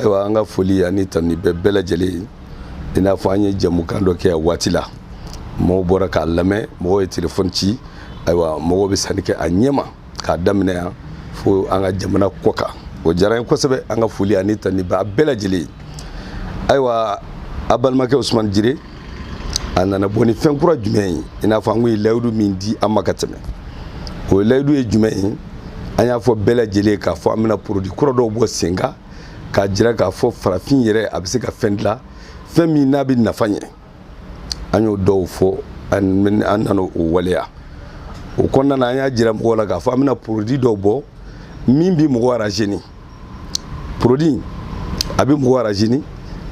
ayiwa an ka foli ani tanuni bɛ bɛɛ lajɛlen ye i n'a fɔ an ye jɛmukan dɔ kɛ a waati la mɔgɔw bɔra k'a lamɛn mɔgɔw ye telefɔni ci ayiwa mɔgɔw bɛ sanni kɛ a ɲɛma k'a daminɛ yan fo an ka jamana kɔkan o diyara n ye kosɛbɛ an ka foli ani tanuni bɛ bɛɛ lajɛlen ye ayiwa a balimakɛ usumani jire a nana bɔ ni fɛn kura jumɛn ye i n'a fɔ an kun ye layidu min di aw ma ka tɛmɛ o layidu ye jumɛn ye an y'a fɔ bɛɛ lajɛlen k'a fɔ an bɛna porodi kura dɔw bɔ sen kan k'a jira k'a fɔ farafin yɛrɛ a bɛ se ka fɛn dilan fɛn min n'a bɛ nafa ɲɛ an y'o dɔw fɔ an nana o waleya o kɔnɔna na an y'a jira mɔgɔw la k'a fɔ an bɛna porodi dɔw bɔ min bɛ mɔgɔ arazini porodi in a bɛ mɔgɔ arazini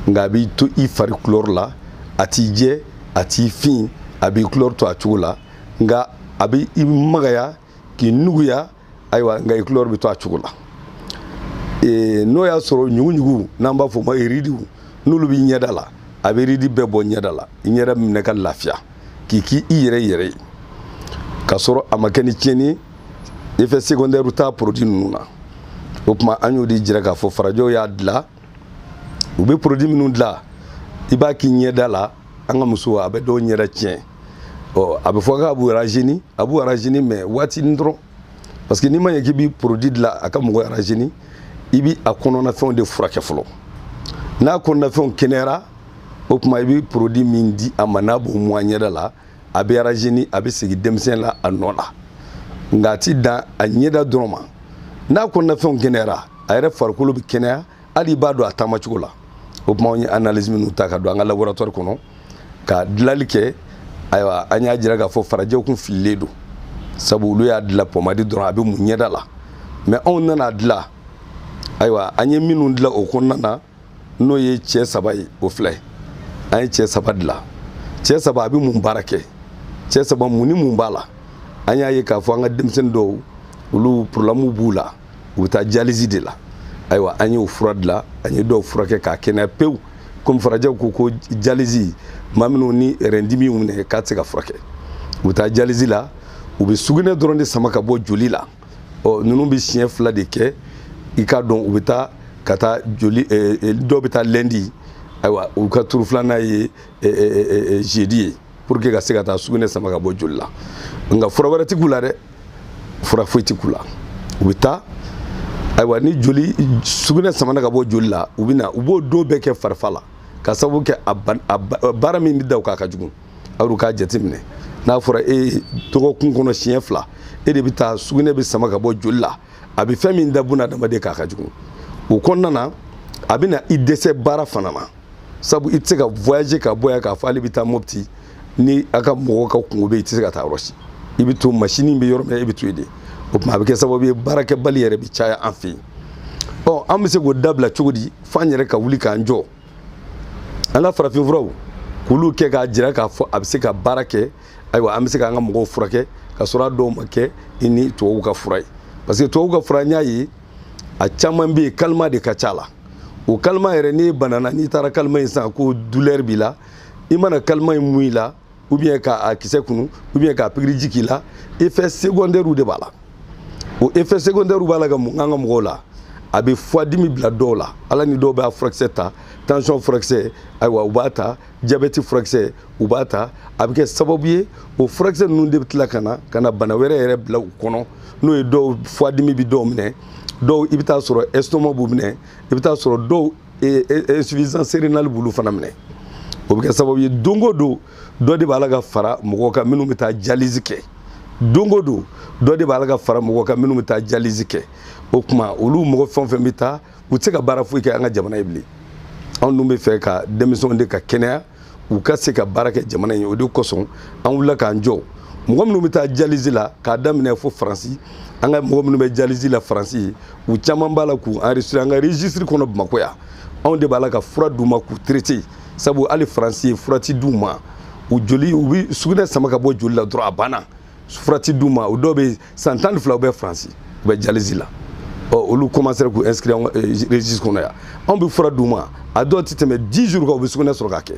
nka a b'i to i fari kulɔri la a t'i jɛ a t'i fin a b'i kulɔri to a cogo la nka a bɛ i magaya k'i nuguya ayiwa nka i kulɔri bɛ to a cogo la n'o y'a sɔrɔ ɲuguɲugu n'an b'a fɔ o ma iridiw n'olu b'i ɲɛda la a bɛ iridi bɛɛ bɔ ɲɛda la i ɲɛda minɛ ka lafiya k'i k'i i yɛrɛ yɛrɛ ye k'a sɔrɔ a ma kɛ ni tiɲɛni ye effet secondaire t'a produit ninnu na o tuma an y'o de jira k'a fɔ farajɛw y'a dilan u bɛ produit minnu dilan i b'a k'i ɲɛda la an ka musow a bɛ dɔw ɲɛda tiɲɛ ɔ a bɛ fɔ k'a b'u arazini a b'u arazini mais waatinin dɔrɔn parce que n'i ma ɲɛ k'i bɛ produit dilan a ka mɔgɔ arazini i bɛ a kɔnɔnafɛnw de furakɛ fɔlɔ n'a kɔnɔnafɛnw kɛnɛyara o tuma i bɛ produit min di a ma n'a b'o mun a ɲɛda la a bɛ arazini a bɛ segin denmisɛnya nɔ la nka a ti dan a ɲɛda dɔrɔn ma n'a kɔnɔnafɛnw kɛnɛyara a yɛrɛ farikolo bɛ kɛnɛya hali i b'a dɔn a taamacogo la o tuma an ye analyse minnu ta ka don an ka laboratoire kɔnɔ ka dilanni kɛ ayiwa an y'a jira k'a fɔ farajɛw kun fililen don sabu olu y'a dilan pɔmadi dɔrɔn a bɛ mun ɲɛda la mais anw nana dilan ayiwa an ye minnu dilan o kɔnɔna na n'o ye cɛ saba ye o filɛ an ye cɛ saba dilan cɛ saba a bɛ mun baara kɛ cɛ saba mun ni mun b'a la an y'a ye k'a fɔ an ka denmisɛnnin dɔw olu problème b'u la u bɛ taa jalizi de la ayiwa an y'o fura dilan an ye dɔw furakɛ k'a kɛnɛya pewu komi farajɛw ko ko jalizi maa minnu ni rɛndimi y'u minɛ k'a tɛ se ka furakɛ u bɛ taa jalizi la u bɛ sugunɛ dɔrɔn de sama ka bɔ joli la ɔ ninnu bɛ siɲɛ fila de kɛ i k'a dɔn u bɛ taa ka taa joli dɔw bɛ taa lundi ayiwa u ka turu filanan ye jeudi ye pour que ka se ka taa sugunɛ sama ka bɔ joli la nka fura wɛrɛ tɛ k'u la dɛ fura foyi tɛ k'u la u bɛ taa ayiwa ni joli sugunɛ samana ka bɔ joli la u bɛ na u b'o don bɛɛ kɛ farifaga la ka sababu kɛ a baara min bɛ da u kan a ka jugu aw dun k'a jateminɛ n'a fɔra e ye dɔgɔkun kɔnɔ siɲɛ fila e de bɛ taa sugunɛ bɛ sama ka bɔ joli la a bɛ fɛn min da buna adamaden kan a ka jugu o kɔnɔna na a bɛ na i dɛsɛ baara fana ma sabu i tɛ se ka voyager ka bɔ yan k'a fɔ ale bɛ taa mopti ni a ka mɔgɔw ka kungo bɛ yen i tɛ se ka taa yɔrɔ si i bɛ to masini bɛ yɔrɔ min na e bɛ to yen de o tuma a bɛ kɛ sababu ye baarakɛbali yɛrɛ bɛ caya an fɛ yen ɔ an bɛ se k'o dabila cogo di f'an yɛrɛ ka wuli k'an jɔ an ka farafinfuraw k'olu kɛ k'a jira k'a fɔ a bɛ se ka baara kɛ ayiwa an bɛ se k'an ka mɔgɔw furakɛ ka sɔrɔ a dɔw ma kɛ i ni tubabuw ka fura ye parce que tubabuw ka fura n y'a ye a caman bɛ yen calmant de ka ca a la o calmant yɛrɛ n'i banana n'i taara calmant in san ko douleur b'i la i mana calmant in mun i la ou bien ka a kisɛ kunu ou bien ka pikiriji k'i la effet secondaire de b'a la o effet secondaire b'a la ka mun an ka mɔgɔw la a bɛ foie dimi bila dɔw la ala ni dɔw bɛ a furakisɛ ta tension furakisɛ ayiwa u b'a ta jabɛti furakisɛ u b'a ta a bɛ kɛ sababu ye o furakisɛ ninnu de bɛ tila ka na ka na bana wɛrɛ yɛrɛ bila u kɔnɔ n'o ye dɔw foie dimi bɛ dɔw minɛ dɔw i bɛ taa sɔrɔ estomac b'u minɛ i bɛ taa sɔrɔ dɔw insuffisance rénale b'olu fana minɛ o bɛ kɛ sababu ye don o don dɔ de b'a la ka fara mɔgɔw kan minnu bɛ taa dialyse kɛ don o don dɔ de b'a la ka fara mɔgɔw kan minnu bɛ taa dialyse kɛ o tuma olu mɔgɔ fɛn o fɛn bɛ taa u tɛ se ka baara foyi kɛ an ka jamana ye bilen anw dun bɛ fɛ ka denmisɛnw de ka kɛnɛya u ka se ka baara kɛ jamana ye o de kosɔn an wulila k'an jɔ mɔgɔ minnu bɛ taa dialyse la k'a daminɛ fo faransi an ka mɔgɔ minnu bɛ dialyse la faransi yen u caman b'a la k'u enregistrer an ka registre kɔnɔ bamakɔ yan anw de b'a la ka fura d'u ma k'u traiter sabu hali faransi yen fura ti d'u ma u joli u bɛ sugunɛ sama ka bɔ joli la dɔrɔn a banna fura ti d'u ma o dɔw bɛ san tan ni filaw bɛ faransi u bɛ dialyse la ɔ olu commencera k'u inscrit an eh, registre kɔnɔ yan anw bɛ fura d'u ma a dɔw tɛ tɛmɛ 10 jours kan u bɛ sugunɛ sɔrɔ k'a kɛ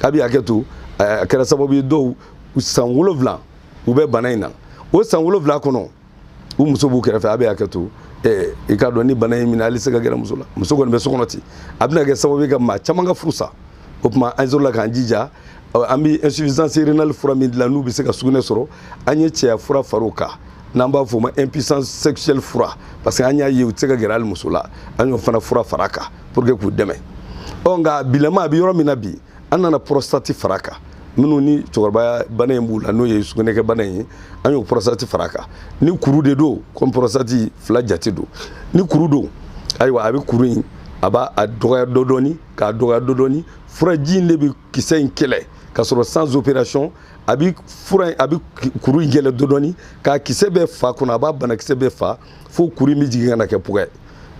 a bɛ hakɛ to eh, a kɛra sababu ye dɔw san wolonwula u bɛ bana in na o san wolonwula kɔnɔ u muso b'u kɛrɛfɛ a bɛ hakɛ to eh, i k'a dɔn ni bana in minɛ hali se ka gɛrɛ muso la muso kɔni bɛ so kɔnɔ ten a bɛna kɛ sababu ye ka maa caman ka furu sa o tuma an sɔrɔla k'an jija an bɛ insuffisance rénale fura min dilan n'u bɛ se ka sugunɛ sɔrɔ an ye cɛya fura far'o kan n'an b'a f'o ma impuissance sexuelle fura parce que an y'a ye u tɛ se ka gɛrɛ hali muso la an y'o fana fura far'a kan pour que k'u dɛmɛ ɔ nka bilama a bɛ yɔrɔ min na bi an nana prostate far'a kan minnu ni cɛkɔrɔbaya bana in b'u la n'o ye sugunɛkɛ bana in ye an y'o prostate far'a kan ni kuru de don comme prostate fila jate don ni kuru don ayiwa a bɛ kuru in a b'a a dɔgɔya dɔ dɔɔni k'a dɔgɔya dɔ dɔɔni furaji in de bɛ kisɛ in kɛlɛ ka sɔrɔ sans opération a bi fura a bi kuru in yɛɛlɛn dɔɔndɔɔni k'a kisɛ bɛɛ fa kɔnɔ a b'a banakisɛ bɛɛ fa fo kuru in bɛ jigin ka na kɛ pugɛ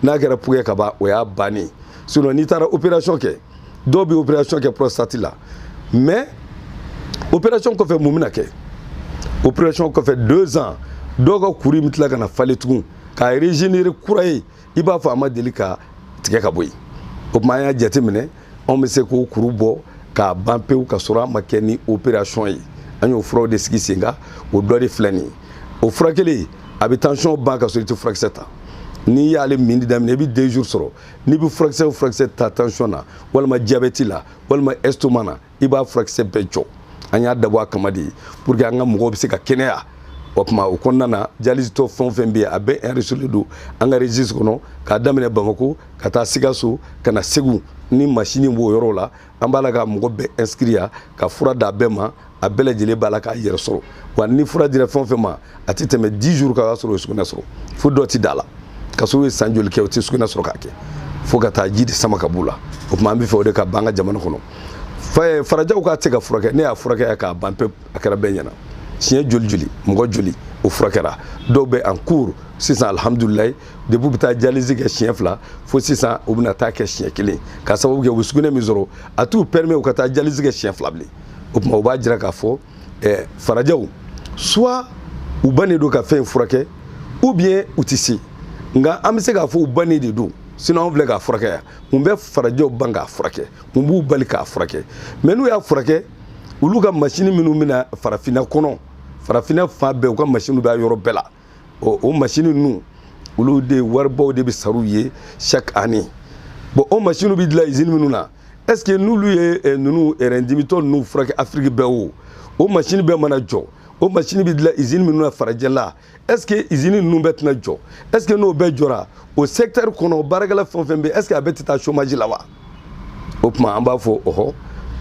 n'a kɛra pugɛ ka ban o y'a bannen sinon n'i taara opération kɛ dɔw bɛ opération kɛ prostate la mais opération kɔfɛ mun bɛna kɛ opération kɔfɛ deux ans dɔw ka kuru in bɛ tila ka na falen tugun ka régénérer kura ye i b'a fɔ a ma deli ka tigɛ ka bɔ yen o tuma an y'a jateminɛ anw bɛ se k'o kuru bɔ k'a ban pewu ka sɔrɔ a ma kɛ ni operasɔn ye an y'o furaw de sigi sen kan o dɔ de filɛ nin ye o fura kelen a bɛ tansiyɔn ban ka sɔrɔ i tɛ furakisɛ ta n'i y'ale minni daminɛ i bɛ deux jours sɔrɔ n'i bɛ furakisɛ o furakisɛ ta tansiyɔn na walima diyabɛti la walima estomac na i b'a furakisɛ bɛɛ jɔ an y'a dabɔ a kama de pour que an ka mɔgɔw bɛ se ka kɛnɛya o tuma o kɔnɔna na dialysetɔ fɛn o fɛn bɛ yen a bɛɛ enregistrélen don an ka registre kɔnɔ k'a daminɛ bamako ka taa sikaso ka na segu ni masini b'o yɔrɔ la an b'a la ka mɔgɔ bɛɛ inscrire ka fura d'a bɛɛ ma a bɛɛ lajɛlen b'a la k'a yɛrɛ sɔrɔ wa ni fura dira fɛn o fɛn ma a tɛ tɛmɛ 10 jours kan o y'a sɔrɔ o ye sugunɛ sɔrɔ fo dɔ tɛ d'a la ka sɔrɔ u ye san joli kɛ o tɛ sugunɛ sɔrɔ k'a kɛ fo ka taa ji de sama ka b'u la o tuma an b'a fɛ o de ka ban an ka jamana kɔnɔ eh, farajɛw k'a tɛ ka furakɛ ne y'a furakɛ k'a ban pewu a kɛra bɛɛ ɲɛna siɲɛ joli joli mɔgɔ joli o furakɛra dɔw bɛ en cours sisan alihamudulilayi depuis u bɛ taa dialyse kɛ siɲɛ fila fo sisan u bɛna taa kɛ siɲɛ kelen k'a sababu kɛ u bɛ sugunɛ min sɔrɔ a t'u permet u ka taa dialyse kɛ siɲɛ fila bilen o tuma u b'a jira k'a fɔ ɛɛ farajɛw soit u bannen don ka fɛn in furakɛ ou bien u tɛ se nka an bɛ se k'a fɔ u bannen de don sinon anw filɛ k'a furakɛ yan mun bɛ farajɛw ban k'a furakɛ mun b'u bali k'a furakɛ mais n'u y'a furakɛ olu ka masini minnu bɛ na farafinna kɔnɔ farafinna fan bɛɛ u ka masiniw bɛ a yɔrɔ bɛɛ la ɔ o masini ninnu olu de waribaw de bɛ sara u ye chaque année bon o masiniw bɛ dilan izini minnu na est ce que n'olu ye eh, ninnu eh, dimitɔ ninnu furakɛ afiriki bɛɛ o o masini bɛɛ mana jɔ o masini bɛ dilan izini minnu na farajɛla est ce que izini ninnu bɛɛ tɛna jɔ est ce que n'o bɛɛ jɔra o secteur kɔnɔ baarakɛla fɛn o fɛn bɛ est ce que a bɛɛ tɛ taa chômage la wa o tuma an b'a fɔ ɔhɔ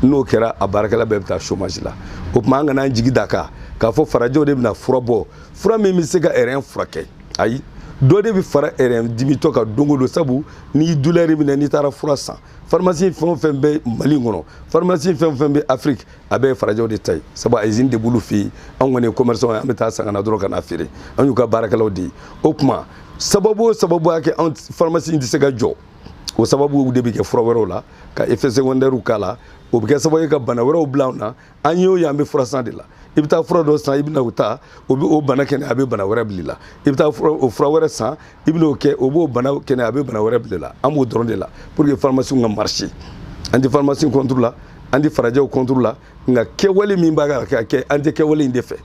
n'o kɛra a baarakɛla bɛɛ bɛ taa chômage la o tuma an kana an jigi d'a kan k'a fɔ farajɛw de bɛna fura bɔ fura min bɛ se ka rein furakɛ ayi dɔ de bɛ fara rein dimitɔ kan don o don sabu n'i ye douleur minɛ n'i taara fura san pharmacie fɛn o fɛn bɛ mali kɔnɔ pharmacie fɛn o fɛn bɛ afiriki a bɛɛ ye farajɛw de ta ye sabu a izini de b'olu fɛ yen anw kɔni ye commerçant ye an bɛ taa san ka na dɔrɔn ka na feere an y'u ka baarakɛlaw de ye o tuma sababu o sababu y'a kɛ anw pharmacie in tɛ se ka jɔ o sababu de bɛ kɛ fura wɛrɛw la ka effet secondaires k'a la o bɛ kɛ sababu ye ka bana wɛrɛw bila anw na an y'o ye an bɛ fura san de la i bɛ taa fura dɔ san i bɛna o ta o bɛ o bana kɛnɛya a bɛ bana wɛrɛ bil'i la i bɛ taa o fura wɛrɛ san i bɛna o kɛ o b'o bana kɛnɛya a bɛ bana wɛrɛ bil'i la an b'o dɔrɔn de la pour que farimasiw ka marcher an tɛ farimasi contre la an tɛ farajɛw contre la nka kɛwale min b'a la ka kɛ an tɛ kɛwale in de fɛ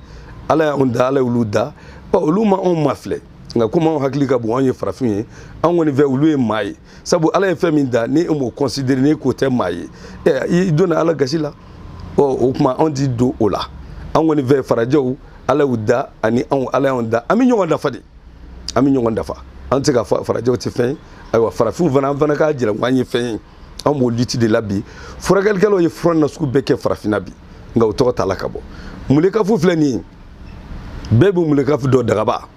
ala y'anw da ala y'olu da ɔ olu ma anw mafilɛ nka komi anw hakili ka bon anw ye farafinw ye anw kɔni fɛ olu ye maa ye sabu ala ye fɛn min da ni e m'o considérer n'i k'o tɛ maa ye i donna ala gasi la ɔ o tuma anw ti don o la an kɔni fɛ farajɛw ala y'u da ani anw ala y'anw da an bɛ ɲɔgɔn dafa de an bɛ ɲɔgɔn dafa an tɛ se k'a fɔ farajɛw tɛ fɛn ye ayiwa farafinw fana an fana k'a jira ko an ye fɛn ye an b'o lutte de la bi furakɛlikɛlaw ye fura nasugu bɛɛ kɛ farafinna bi nka o tɔgɔ t'a la ka bɔ mulekafu filɛ nin ye bɛɛ bɛ mulekafu dɔn dagaba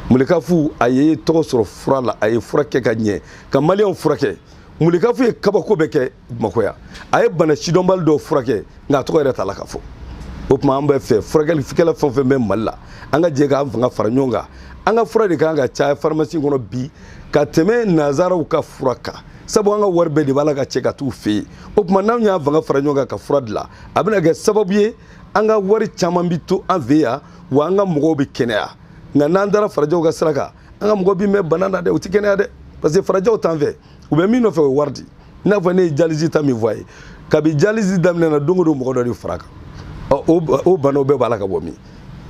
mulikafu a ye tɔgɔ sɔrɔ fura la a ye fura kɛ ka ɲɛ ka maliyɛnw furakɛ mulikafu ye kabako bɛɛ kɛ bamakɔ yan a ye bana sidɔnbali dɔw furakɛ nka a tɔgɔ yɛrɛ t'a la ka fɔ o tuma an b'a fɛ furakɛlikɛla fɛn o fɛn bɛ mali la an ka jɛ k'an fanga fara ɲɔgɔn kan an ka fura de kan ka caya farimasi kɔnɔ bi ka tɛmɛ nazaraw ka fura kan sabu an ka wari bɛɛ de b'a la ka cɛ ka t'u fɛ yen o tuma n'anw y'an fanga fara ɲɔgɔn kan ka fura dilan a bɛna kɛ sababu ye an ka wari caman bi to an fɛ yan wa an ka mɔgɔw bɛ kɛnɛya nka n'an taara farajɛw ka sira kan an ka mɔgɔ bi mɛn bana na dɛ u tɛ kɛnɛya dɛ parce que farajɛw t'an fɛ u bɛ min nɔfɛ o ye wari di i n'a fɔ ne ye dialyse ta min fɔ a ye kabi dialyse daminɛna don o don mɔgɔ dɔ de fara kan ɔ o banaw bɛɛ b'a la ka bɔ min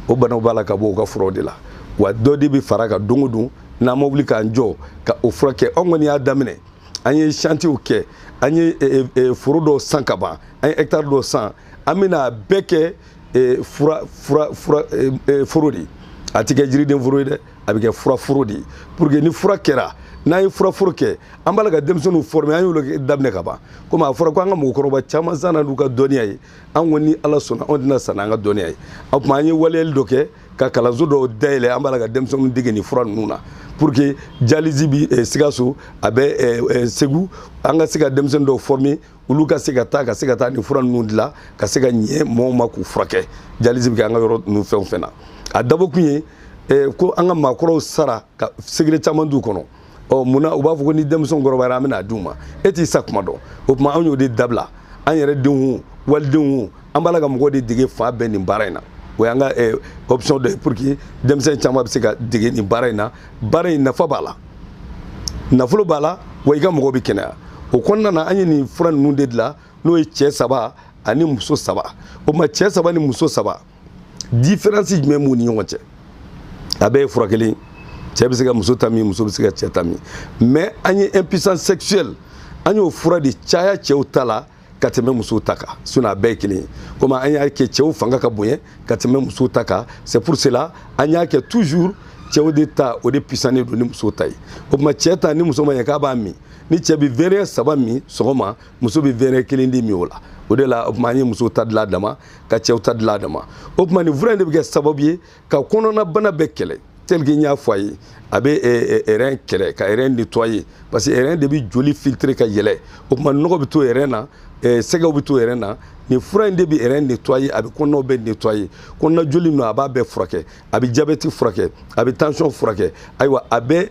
o banaw b'a la ka bɔ u ka furaw de la wa dɔ de bɛ fara kan don o don n'an ma wuli k'an jɔ ka o furakɛ anw kɔni y'a daminɛ an ye shantiyew kɛ an ye foro dɔw san ka ban an ye hɛkitari dɔw san an bɛna a bɛɛ kɛ eh, fura fura fura eh, eh, foro de ye a tɛ kɛ jiriden foro ye dɛ a bɛ kɛ fura foro de ye pour que ni fura kɛra n'an ye fura foro kɛ an b'a la ka denmisɛnninw former an y'olu daminɛ ka ban komi a fɔra ko an ka mɔgɔkɔrɔba caman sara n'u ka dɔnniya ye an ko ni ala sɔnna anw tɛna sa n'an ka dɔnniya ye o tuma an ye waleyali dɔ kɛ ka kalanso dɔw dayɛlɛ an b'a la ka denmisɛnninw dege nin fura ninnu na pour que dialyse bi eh, sikaso a bɛ eh, eh, segu an ka se ka denmisɛnnin dɔw former olu ka se ka taa ka se ka taa nin fura ninnu dilan ka se ka ɲɛ mɔgɔw ma k'u furakɛ dialyse bɛ kɛ an ka yɔrɔ ninnu fɛn o fɛn na a dabɔkun ye eh, ko an ka maakɔrɔw sara ka secret caman t'u kɔnɔ ɔ munna u b'a fɔ ko ni denmisɛnw kɔrɔbayara an bɛn'a d'u ma e t'i sa kuma dɔn o tuma anw y'o de dabila an yɛrɛ denw o walidenw o an b'a la ka mɔgɔw de dege fan bɛɛ nin baara in na o y'an ka eh, option dɔ ye pour que denmisɛn caman bɛ se ka dege nin baara in na baara in nafa b'a la nafolo b'a la wa i ka mɔgɔ bɛ kɛnɛya o kɔnɔna na an ye nin fura ninnu de dilan n'o ye cɛ saba ani muso saba o tuma cɛ saba ni muso saba diferansi jumɛn b'u ni ɲɔgɔn cɛ a bɛɛ ye fura kelen cɛ bɛ se ka muso ta min muso bɛ se ka cɛ ta min mais an ye impuissance sexuelle an y'o fura de caya cɛw ta la ka tɛmɛ musow ta kan sinɔn a bɛɛ ye kelen ye komi an y'a kɛ cɛw fanga ka bonya ka tɛmɛ musow ta kan c'est pour cela an y'a kɛ toujours cɛw de ta o de puissannen don ni musow ta ye o tuma cɛ ta ni muso ma ɲɛ k'a b'a min ni cɛ bɛ verɛ saba min sɔgɔma muso bɛ verɛ kelen de min o la o de la o tuma an ye musow ta dilan a dama ka cɛw ta dilan a dama o tuma nin fura in de bɛ kɛ sababu ye ka kɔnɔnabana bɛɛ kɛlɛ tel que n y'a fɔ a ye a bɛ eh, eh, rɛn kɛlɛ ka rɛn nettoyer parce que rɛn de bɛ joli filtrer ka yɛlɛ o tuma nɔgɔ bɛ to rɛn na eh, sɛgɛw bɛ to rɛn na nin fura in de bɛ rɛn nettoyer a bɛ kɔnɔnaw bɛɛ nettoyer kɔnɔna joli ninnu a b'a bɛɛ furakɛ a bɛ jabɛti furakɛ a bɛ tension furakɛ ayiwa a bɛ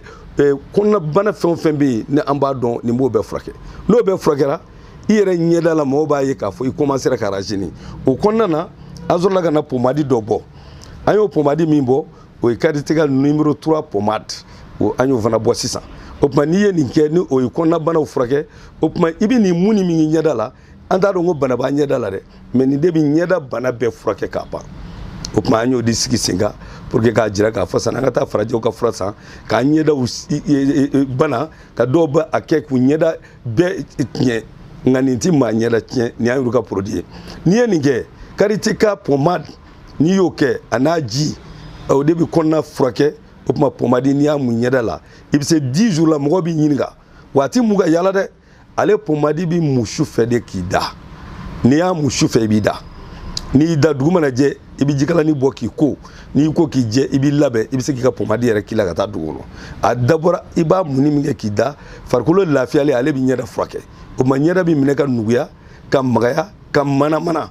kɔnɔnabana fɛn o fɛn bɛ yen ni an b'a dɔn nin b'o bɛɛ furakɛ n'o bɛɛ furakɛra i yɛrɛ ɲɛda la mɔgɔw b'a ye k'a fɔ i commencera ka rajeunir o kɔnɔna na an sɔrɔla ka na pomadi dɔ bɔ an y'o pomadi min bɔ o ye karitika nimero 3 pomade o an y'o fana bɔ sisan o tuma n'i ye nin kɛ ni o ye kɔnɔnabanaw furakɛ o tuma i bɛ nin mun ni min ɲɛda la an t'a dɔn ko bana b'a ɲɛda la dɛ mɛ nin de bɛ ɲɛda bana bɛɛ furakɛ k'a ban o tuma an y'o de sigi sen kan pour que k'a jira k'a fɔ sani an ka taa farajɛw ka fura san k'a ɲɛdaw bana ka dɔw bɛ a kɛ k'u ɲɛda bɛɛ tiɲɛ nka nin ti maa ɲɛda tiɲɛ nin y'an yɛrɛ ka produit ye n'i ye nin kɛ karitika pomade n'i y'o kɛ a n'a ji o de bɛ kɔnɔna furakɛ o tuma pomadi n'i y'a mun ɲɛda la i bɛ se 10 jours la mɔgɔ b'i ɲininka wa a ti mun ka yala dɛ ale pomadi bɛ mun su fɛ de k'i da n'i y'a mun su fɛ i b'i da n'i y'i da dugu mana jɛ i bɛ jikalani bɔ k'i ko n'i ko k'i jɛ i b'i labɛn i bɛ se k'i ka pomadi yɛrɛ k'i la ka taa dugu kɔnɔ a dabɔra i b'a munni min kɛ k'i da farikolo lafiyalen ale bɛ ɲɛda furakɛ o tuma ɲɛda bɛ minɛ ka nuguya ka magaya ka manamana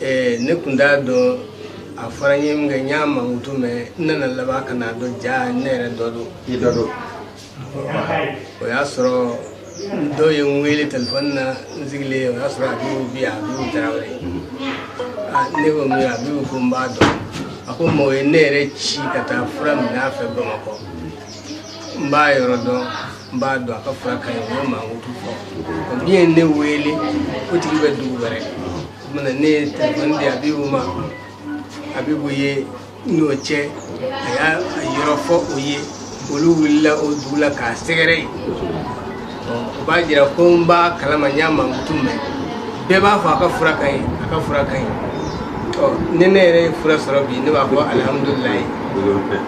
eh, ne tun t'a dɔn a fɔra n ye min kɛ n y'a mankutu mɛn n nana laban ka n'a dɔn ja ne yɛrɛ dɔ don i dɔ don o y'a sɔrɔ dɔ ye n wele telefɔni na n sigilen o y'a sɔrɔ abibu abibu tarawele ah, ne ko min abibu ko n b'a dɔn a ko mɔgɔ ye ne yɛrɛ ci ka taa fura minɛ a fɛ bamakɔ n b'a yɔrɔ dɔn n b'a dɔn a ka fura ka ɲi o y'a mankutu fɔ min ye ne wele o tigi bɛ dugu wɛrɛ tuma ne ye telefɔni di abibu ma abibu ye n'o cɛ a y'a yɔrɔ fɔ o ye olu wulila o dugu la k'a sɛgɛrɛ yen o b'a jira ko n b'a kalama n y'a mankutu mɛn bɛɛ b'a fɔ a ka fura ka ɲi a ka fura ka ɲi ni ne yɛrɛ ye fura sɔrɔ bi ne b'a fɔ alihamudulilayi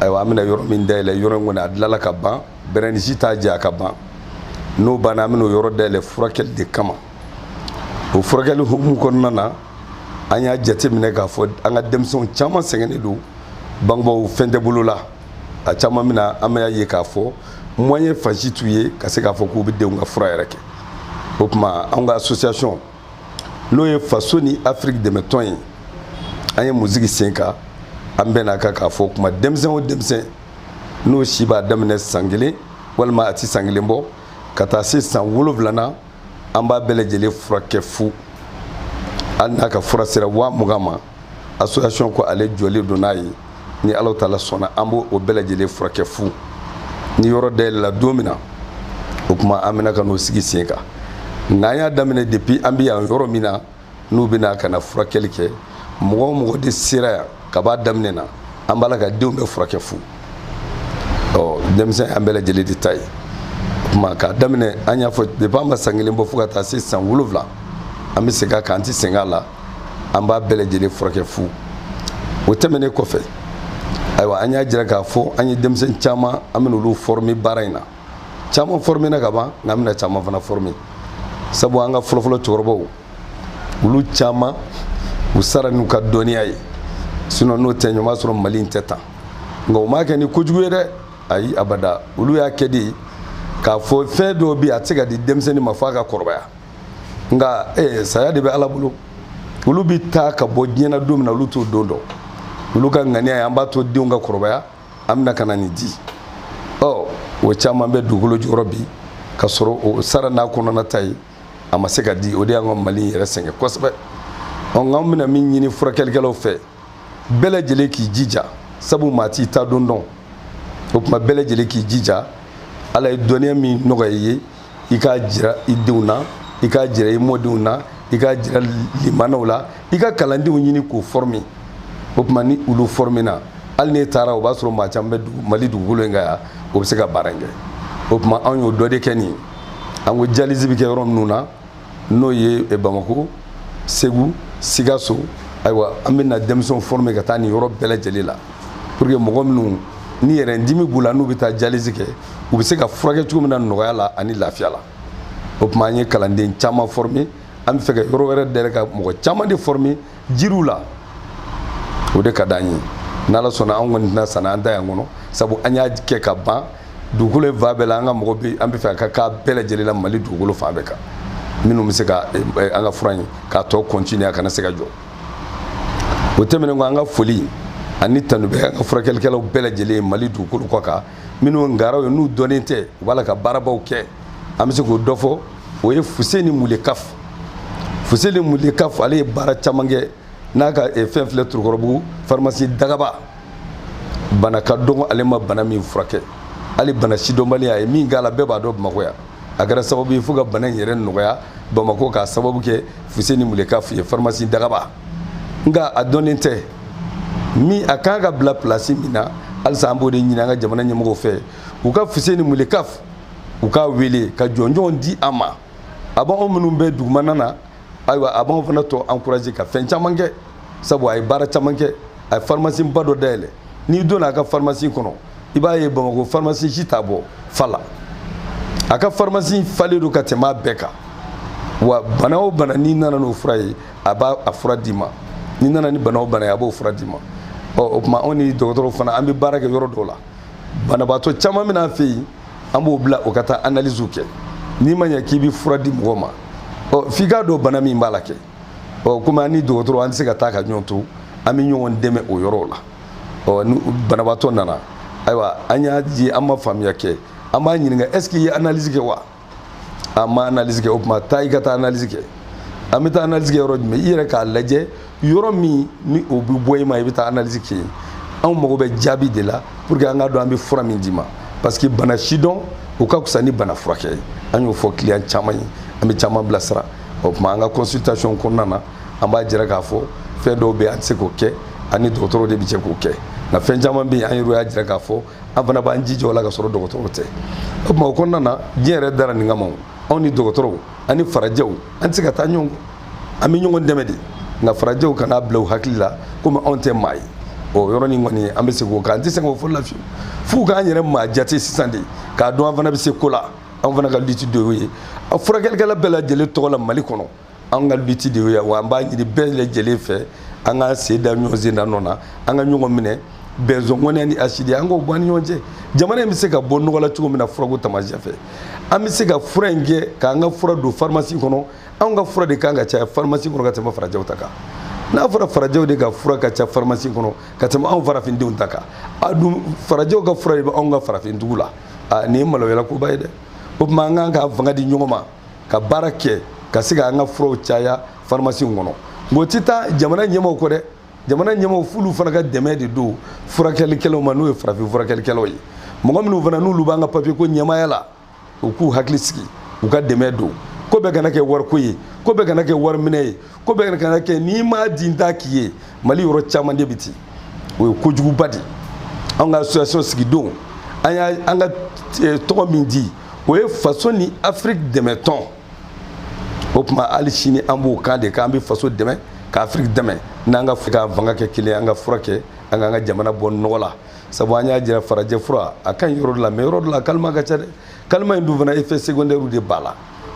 ayiwa an bɛna yɔrɔ min dayɛlɛ yɔrɔ in kɔni a dilala ka ban bɛrɛnisi t'a jɛ a ka ban n'o banna an bɛna o yɔrɔ dayɛlɛ furakɛli de kama o furakɛli hukumu kɔnɔna na an y'a jateminɛ k'a fɔ an ka denmisɛnw caman sɛgɛnnen don bangebaaw fɛn tɛ bolo la a caman min na an bɛna ye k'a fɔ moyen fan si t'u ye ka se k'a fɔ k'u bɛ denw ka fura yɛrɛ kɛ o tuma anw ka association n'o ye faso ni afiriki dɛmɛtɔn ye an ye min sigi sen kan an bɛnn'a kan k'a fɔ kuma denmisɛn o denmisɛn n'o si b'a daminɛ san kelen walima a ti san kelen bɔ ka taa se san wolonwulana an b'a bɛɛ lajɛlen furakɛ fu hali n'a ka fura sera waa mugan ma association ko ale jɔlen don n'a ye ni ala taala sɔnna an b'o o bɛɛ lajɛlen furakɛ fu ni yɔrɔ dayɛlɛla don min na o kuma an bɛna ka n'o sigi sen kan n'an y'a daminɛ depuis an bɛ yan yɔrɔ min na n'u bɛna ka na furakɛli kɛ mɔgɔ o mɔgɔ den sera yan ka b'a daminɛ na an b'a la ka denw bɛɛ furakɛ fu ɔ denmisɛn an bɛɛ lajɛlen de ta ye o kuma k'a daminɛ an y'a fɔ depuis an ma san kelen bɔ fo ka taa se san wolonwula an bɛ segin a kan an tɛ sɛgɛn a la an b'a bɛɛ lajɛlen furakɛ fu o tɛmɛnen kɔfɛ ayiwa an y'a jira k'a fɔ an ye denmisɛnnin caman an bɛna olu former baara in na caman former na ka ban nka an bɛna caman fana former sabu an ka fɔlɔfɔlɔ cɛkɔrɔbaw olu caman u sara n'u ka dɔnniya ye sinon n'o tɛ ɲɔgɔn b'a sɔrɔ mali in tɛ tan nka u m'a kɛ ni kojugu ye dɛ ayi abada olu y'a kɛ de k'a fɔ fɛn dɔw bɛ yen a tɛ se ka di denmisɛnnin ma f'a ka kɔrɔbaya nka ee saya de bɛ ala bolo olu bɛ taa ka bɔ diɲɛ na don min na olu t'o don dɔn olu ka ŋaniya ye an b'a to denw ka kɔrɔbaya an bɛna ka na nin di ɔ o caman bɛ dugukolo jukɔrɔ bi ka sɔrɔ o sara n'a kɔnɔna ta ye a ma se ka di o de y'an ka mali yɛrɛ sɛgɛn kosɛbɛ ɔ nka an bɛna min ɲini furakɛlikɛlaw fɛ bɛɛ lajɛlen k'i jija sabu maa t'i ta don dɔn o tuma bɛɛ lajɛlen k'i jija ala ye dɔnniya min nɔgɔya i ye i k'a jira i denw na i k'a jira i mɔdenw na i k'a jira limanaw la i ka kalandenw ɲini k'o forme o tuma ni olu forme na hali n'e taara o b'a sɔrɔ maa caman bɛ mali dugukolo in kan yan o bɛ se ka baara in kɛ o tuma anw y'o dɔ de kɛ nin ye an ko dialyse bɛ kɛ yɔrɔ minnu na n'o ye eh, bamako segu sikaso ayiwa an bɛna denmisɛnw forme ka taa nin yɔrɔ bɛɛ lajɛlen la pour que mɔgɔ minnu ni rein dimi b'u la n'u bɛ taa dialyse kɛ u bɛ se ka furakɛ cogo min na nɔgɔya la ani lafiya la o tuma an ye kalanden caman forme an bɛ fɛ ka yɔrɔ wɛrɛ dayɛlɛ ka mɔgɔ caman de forme jiriw la o de ka d'an ye n'ala sɔnna an kɔni tɛna sanna an da yan kɔnɔ sabu an y'a kɛ ka ban dugukolo ye fan bɛɛ la an ka mɔgɔ bɛ an b'a fɛ a ka k'a bɛɛ lajɛlen la mali dugukolo fan bɛɛ kan minnu bɛ se ka eh, eh, an ka fura in k'a tɔ continuer a kana se ka jɔ o tɛmɛnen kɔ an ka foli ani tanu bɛ an ka furakɛlikɛlaw bɛɛ lajɛlen mali dugukolo kɔ kan minnu ngaraw ye n'u dɔnnen tɛ u b'a la ka baarabaw kɛ an bɛ se k'o dɔ fɔ o ye fuseni mulekaf fuseni mulekaf ale ye baara caman kɛ n'a ka eh, fɛn filɛ tɔrɔkɔrɔbugu farimasi dagaba bana ka dɔgɔ ale ma bana min furakɛ hali bana sidɔnbaliya a ye min k'a la bɛɛ b'a dɔn bamakɔ yan a kɛra sababu ye fo ka bana in yɛrɛ nɔgɔya bamakɔ k'a sababu kɛ fuseni mulekaf ye farimasi dagaba nka a dɔnnen tɛ min a kan ka bila pilasi min na halisa an b'o de ɲini an ka jamana ɲɛmɔgɔw fɛ u ka fuseni mulekaf u k'a wele ka jɔnjɔn di a ma a b'anw minnu bɛ dugumana na ayiwa a b'anw fana tɔ encourager ka fɛn caman kɛ sabu a ye baara caman kɛ a ye pharmacie ba dɔ dayɛlɛ n'i donna a ka pharmacie kɔnɔ i b'a ye bamakɔ pharmacie si t'a bɔ fa la a ka pharmacie falen don ka tɛmɛ a bɛɛ kan wa bana o bana n'i nana n'o fura ye a b'a a fura d'i ma n'i nana ni bana o bana ye a b'o fura d'i ma ɔ o tuma anw ni dɔgɔtɔrɔw fana an bɛ baara kɛ yɔrɔ dɔw la banabaatɔ caman bɛ na an fɛ yen an b'o bila o ka taa analyse kɛ n'i ma ɲɛ k'i bɛ fura di mɔgɔ ma ɔ f'i k'a dɔn bana min b'a la kɛ ɔ komi an ni dɔgɔtɔrɔ an tɛ se ka taa ka ɲɔgɔn to an bɛ ɲɔgɔn dɛmɛ o yɔrɔw la ɔ ni banabaatɔ nana ayiwa an y'a ye an ma faamuya kɛ an b'a ɲininka est ce que i ye analyse kɛ wa an ma analyse kɛ o tuma taa i ka taa analyse kɛ an bɛ taa analyse kɛ yɔrɔ jumɛn i yɛrɛ k'a lajɛ yɔrɔ min ni o bɛ bɛn i ma i bɛ taa analyse kɛ yen anw mago bɛ jaabi de la pour que an k'a dɔn an bɛ fura min d'i ma parce que bana sidɔn o ka fisa ni bana furakɛ ye an y'o fɔ client caman ye an bɛ caman bilasira o tuma an ka consultation kɔnɔna na an b'a jira k'a fɔ fɛn dɔw bɛ yen an tɛ se k'o kɛ an ni dɔgɔtɔrɔ de bɛ jɛ k'o kɛ nka fɛn caman bɛ yen an yɛrɛ y'a jira k'a fɔ an fana b'an jija o la k'a sɔrɔ dɔgɔtɔrɔw tɛ o tuma o kɔnɔna na diɲɛ yɛrɛ dara nin kama anw ni dɔgɔtɔrɔw ani farajɛw an tɛ se ka taa ɲɔgɔn an bɛ ɲɔgɔn dɛmɛ de nka farajɛw kan'a bila u hakili la komi anw tɛ maa ye o yɔrɔnin kɔni an bɛ se k'o kan an tɛ se k'o fɔ la fiyewu f'u k'an yɛrɛ maa jate sisan de k'a dɔn an fana bɛ se ko la anw fana ka lutte de y'o ye a furakɛlikɛla bɛɛ lajɛlen tɔgɔ la mali kɔnɔ an ka lutte de ye wa an b'a ɲini bɛɛ lajɛlen fɛ an ka sen da ɲɔgɔn sen da nɔ na an ka ɲɔgɔn minɛ bɛnzɔngɔnɛ ni hasidi an k'o bɔ an ni ɲɔgɔn cɛ jamana in bɛ se ka bɔ nɔgɔ la cogo min na furako taamasiyɛn fɛ an bɛ se ka fura in kɛ k'an ka fura don farimasi kɔnɔ anw ka fura de kan ka caya farimasi kɔnɔ ka tɛmɛ farajɛw ta kan n'a fɔra farajɛw de ka fura ka ca farimasi kɔnɔ ka tɛmɛ anw farafindenw ta kan a dun farajɛw ka fura de bɛ anw ka farafindugu la nin ye maloyalakoba ye dɛ o tuma an kan ka fanga di ɲɔgɔn ma ka baara kɛ ka se k'an ka furaw caya farimasiw kɔnɔ nka o tɛ taa jamana ɲɛmaaw kɔ dɛ jamana ɲɛmaaw f'olu fana ka dɛmɛ de don furakɛlikɛlaw ma n'o ye farafin furakɛlikɛlaw ye mɔgɔ minnu fana n'olu b'an ka papiye ko ɲɛmaaya la u k'u hakili sigi u ka dɛmɛ don ko bɛɛ kana kɛ wariko ye ko bɛɛ kana kɛ wariminɛ ye ko bɛɛ kana kɛ n'i m'a di n t'a k'i ye mali yɔrɔ caman de bɛ ten o ye kojuguba de ye anw ka association sigidon an y'a an ka eh, tɔgɔ min di o ye faso ni afiriki dɛmɛtɔn o tuma hali sini an b'o kan de k'an bɛ faso dɛmɛ ka afiriki dɛmɛ an k'an fanga kɛ kelen an ka fura kɛ an k'an ka jamana bɔ nɔgɔ la sabu an y'a jira farajɛ fura a ka ɲi yɔrɔ dɔ la mais yɔrɔ dɔ la calmant ka ca dɛ calmant in dun fana effet secondaire de b'a la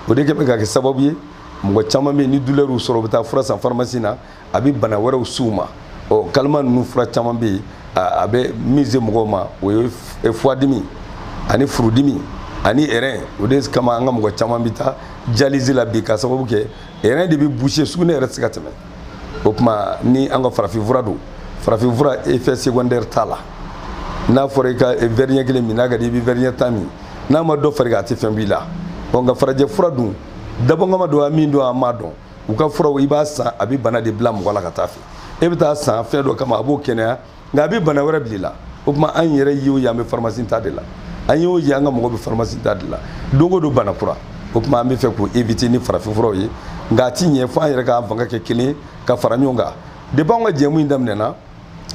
o de kɛ bɛ ka kɛ sababu ye mɔgɔ caman bɛ yen ni douleur y'u sɔrɔ u bɛ taa fura san pharmacie na a bɛ bana wɛrɛw s'u ma ɔ calmant ninnu fura caman bɛ yen a bɛ min se mɔgɔw ma o ye e, fuwadimi ani furudimi ani rein o de kama an ka mɔgɔ caman bɛ taa dialyse la bi k'a sababu kɛ rein de bɛ boucher sugunɛ yɛrɛ tɛ se ka tɛmɛ o tuma ni an ka farafinfura don farafinfura effet secondaire t'a la n'a fɔra i ka verre ɲɛ kelen min n'a ka di i bɛ verre ɲɛ tan min n'a ma dɔ far'i kan a tɛ fɛn b'i la ɔ nka farajɛ fura dun dabɔnkama don a min don a ma dɔn u ka furaw i b'a san a bɛ bana de bila mɔgɔ la ka taa fɛ e bɛ taa san fɛn dɔ kama a b'o kɛnɛya nka a bɛ bana wɛrɛ bila i la o tuma an yɛrɛ ye o ye an bɛ faramasi ta de la an y'o ye an ka mɔgɔ bɛ faramasi ta de la don o don bana kura o tuma an b'a fɛ k'o éviter ni farafinfuraw ye nka a ti ɲɛ fo an yɛrɛ k'an fanga kɛ kelen ka fara ɲɔgɔn kan depuis anw ka jɛmu in daminɛna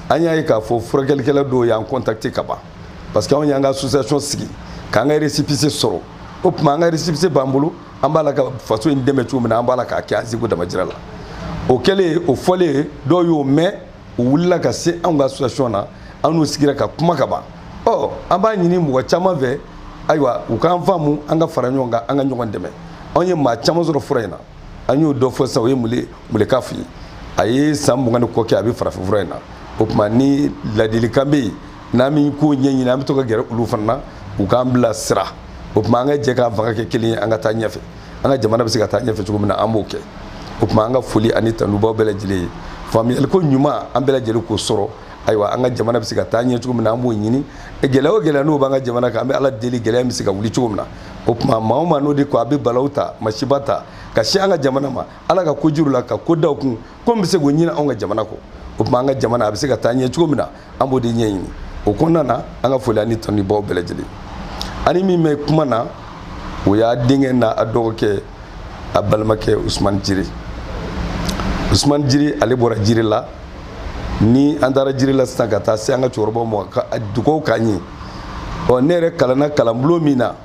an y'a ye k'a fɔ furakɛlikɛla dɔw y'an contacter ka ban parce que anw y'an ka association sigi k'an ka récépissé sɔrɔ o tuma an ka récépissé b'an bolo an b'a la ka faso in dɛmɛ cogo min na an b'a la k'a kɛ an seko damajira la o kɛlen o fɔlen dɔw y'o mɛn u wulila ka se anw ka association na an n'u sigira ka kuma ka ban ɔ an b'a ɲini mɔgɔ caman fɛ ayiwa u k'an faamu an ka fara ɲɔgɔn kan an ka ɲɔgɔn dɛmɛ anw ye maa caman sɔrɔ fura in na an y'o dɔ fɔ sisan o ye mule mulekafu ye a ye san mugan ni kɔ kɛ a bɛ farafinfura in na o tuma ni ladilikan bɛ yen n'an min ko ɲɛɲini an bɛ to ka gɛrɛ olu fana na u k'an bila sira o tuma an ka jɛ k'an fanga kɛ kelen ye an ka taa ɲɛfɛ an ka jamana bɛ se ka taa ɲɛfɛ cogo min na an b'o kɛ o tuma an ka foli ani tanu b'aw bɛɛ lajɛlen ye faamuyaliko ɲuman an bɛɛ lajɛlen k'o sɔrɔ ayiwa an ka jamana bɛ se ka taa ɲɛ cogo min na an b'o ɲini gɛlɛya o gɛlɛya n'o b'an ka jamana kan an bɛ ala deli gɛlɛya bɛ se ka wuli cogo min na o tuma maa o maa n'o de ko a bɛ balawu ta masiba ta ka sin an ka jamana ma ala ka kojugu la ka k'o da u kun ko n bɛ se k'o ɲini anw ka jamana kɔ o tuma an ka jamana a bɛ se ka taa ɲɛ cogo min na an b'o de ɲɛɲini o kɔnɔna na an ka foli ani tanu b'aw bɛɛ lajɛlen ani min bɛ kuma na o y'a denkɛ n'a a dɔgɔkɛ a balimakɛ usumani jire usumani jire ale bɔra jirela ni an taara jirela sisan ka taa se an ka cɛkɔrɔbaw ma u ka dugaw k'an ye ɔ ne yɛrɛ kalanna kalanbulon min na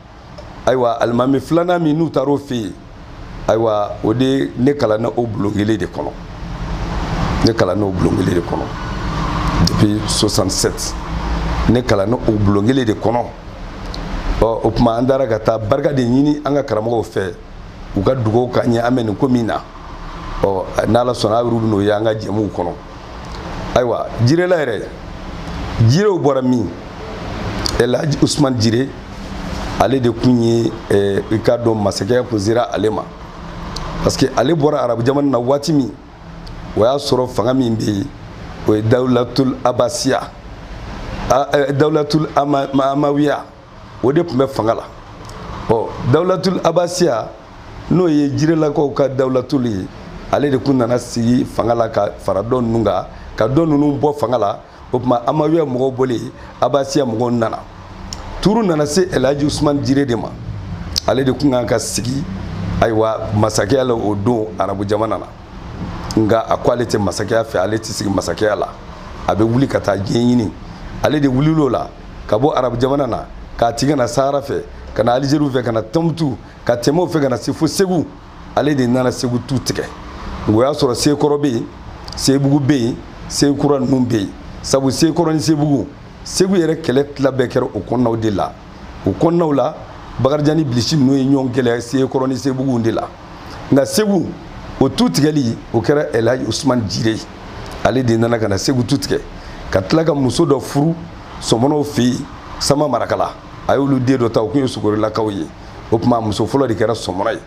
ayiwa alimami filanan min n'u taara o fɛ yen ayiwa o de ne kalanna o bulon kelen de kɔnɔ ne kalanna o bulon kelen de kɔnɔ depuis 67 ne kalanna o bulon kelen de kɔnɔ ɔ o tuma an taara ka taa barika de ɲini an ka karamɔgɔw fɛ u ka dugawu k'an ye an bɛ nin ko min na ɔ n'ala sɔnna aw yɛrɛ bɛn'o ye an ka jɛmuw kɔnɔ ayiwa jirela yɛrɛ jirew bɔra min elhaji usman jire ale de tun ye eh, i k'a dɔn masakɛya kun sera ale ma parce que ale bɔra arabu jamana na waati min o y'a sɔrɔ fanga min bɛ yen o ye dawulatul abasiya eh, dawulatul amawiya o de tun bɛ fanga la ɔ dawulatul abasiya n'o ye jirelakaw ka dawulatul ye ale de tun nana sigi fanga la ka fara dɔ ninnu kan ka dɔ ninnu bɔ fanga la o tuma amawiya mɔgɔw bɔlen abasiya mɔgɔw nana tour nana se elhaji usumani jire de ma ale de tun kan ka sigi ayiwa masakɛya la o don arabu jamana na nka a ko ale tɛ masakɛya fɛ ale tɛ sigi masakɛya la a bɛ wuli ka taa diɲɛ ɲini ale de wulil'o la ka bɔ arabu jamana na k'a tigɛ ka na sahara fɛ ka na alizeri fɛ ka na tɔnbutu ka tɛmɛ o fɛ ka na se fo segu ale de nana segu tu tigɛ o y'a sɔrɔ sekɔrɔ bɛ yen sebugu bɛ yen sekura ninnu bɛ yen sabu sekɔrɔ ni sebugu segu yɛrɛ kɛlɛ tila bɛɛ kɛra o kɔnɔnaw de la o kɔnɔnaw la bakarijan ni bilisi ninnu ye ɲɔgɔn kɛlɛ sekɔrɔ ni sebugu de la nka segu o tu tigɛli o kɛra elhaji usumani jire ale de nana ka na segu tu tigɛ ka tila ka muso dɔ furu sɔmɔnɔw fɛ yen sama marakala a y'olu den dɔ ta o tun ye sogorilakaw ye o tuma a muso fɔlɔ de kɛra sɔmɔnɔ ye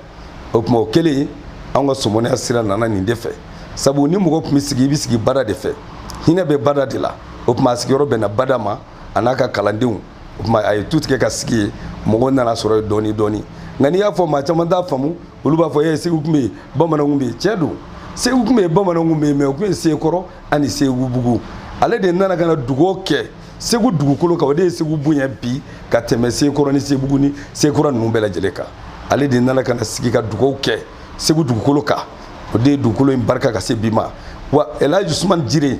o tuma o kɛlen anw ka sɔmɔnɔya sira nana nin de fɛ sabu ni mɔgɔ tun bɛ sigi i bɛ sigi bada de fɛ hinɛ bɛ bada de la o tuma a sigiyɔrɔ bɛnna bada ma a n'a ka kalandenw o tuma a ye tu tigɛ ka sigi yen mɔgɔw nan'a sɔrɔ yen dɔɔni dɔɔni nka n'i y'a fɔ maa caman t'a faamu olu b'a fɔ e segu tun bɛ yen bamananw tun bɛ yen tiɲɛ don segu tun bɛ yen bamananw tun bɛ yen mais u tun ye sekɔrɔ ani sebugu ale de nana ka na dugaw kɛ segu dugukolo kan o de ye segu bonya bi ka tɛmɛ sekɔrɔ ni sebugu ni sekura ninnu bɛɛ lajɛlen kan ale de nana ka na sigi ka dugaw kɛ segu dugukolo kan o de ye dugukolo in barika ka se bi ma wa elhaji usumani jire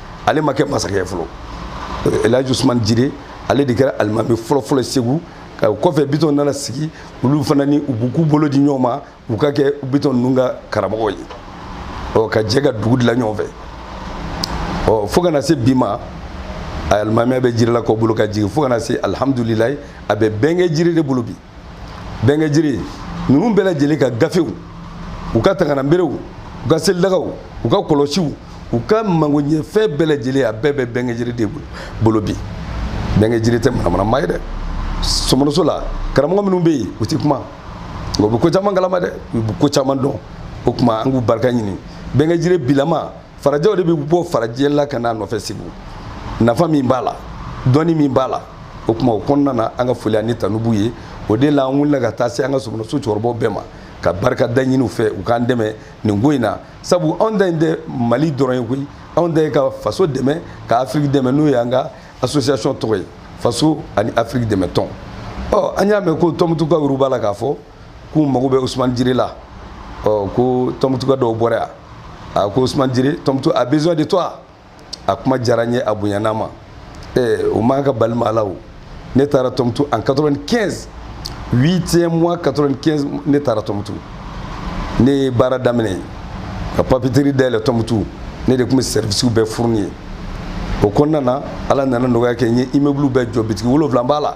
ale ma kɛ masakɛ fɔlɔ elhaji usman jire ale de kɛra alimami fɔlɔfɔlɔ segu ka o kɔfɛ bitɔn nana sigi olu fana ni u b'u bolo di ɲɔgɔn ma u ka kɛ bitɔn ninnu ka karamɔgɔ ye ɔ ka jɛ ka dugu dilan ɲɔgɔn fɛ ɔ fo ka na se bi ma alimamiya bɛ jirelakaw bolo ka jigin fo ka na se alihamudulilayi a bɛ bɛnkɛ jire de bolo bi bɛnkɛ jiri ninnu bɛɛ lajɛlen ka gafew u ka tangananberew u ka selidagaw u ka kɔlɔsiw u ka magoɲɛfɛn bɛɛ lajɛlen a bɛɛ bɛ bɛnkɛ jiri de bolo bi bɛnkɛ jiri tɛ manamana maa ye dɛ sɔmɔnɔso la karamɔgɔ minnu bɛ yen u tɛ kuma nka u bɛ ko caman kalama dɛ u bɛ ko caman dɔn o tuma an k'u barika ɲini bɛnkɛ jiri bilama farajɛw de bɛ bɔ farajɛla ka n'a nɔfɛ segu nafa min b'a la dɔnni min b'a la o tuma o kɔnɔna na an ka foli ani tanubu ye o de la an wulila ka taa se an ka sɔmɔnɔso cɛkɔrɔbaw bɛɛ ma ka barika da ɲini u fɛ u k'an dɛmɛ nin ko in na sabu anw ta in tɛ mali dɔrɔn ye koyi anw ta ye ka faso dɛmɛ ka afiriki dɛmɛ n'o ye an ka association tɔgɔ ye faso ani afiriki dɛmɛ tɔn ɔ an y'a mɛn ko tɔnbutukaw olu b'a la k'a fɔ k'u mago bɛ usumani jiri la ɔ ko tɔnbutuka dɔw bɔra yan a ko usumani jiri tɔnbutu a besoin de toi a kuma diyara n ye a bonyana n ma ee o man kan ka bali maa la o ne taara tɔnbutu en 95 huitième mois 95 ne taara tɔnbutu ne ye baara daminɛ ka papeterie dayɛlɛ tɔnbutu ne de tun bɛ servicew bɛɛ fournir yen o kɔnɔna na ala nana nɔgɔya kɛ n ye immeuble bɛɛ jɔ bitigi wolonwula b'a la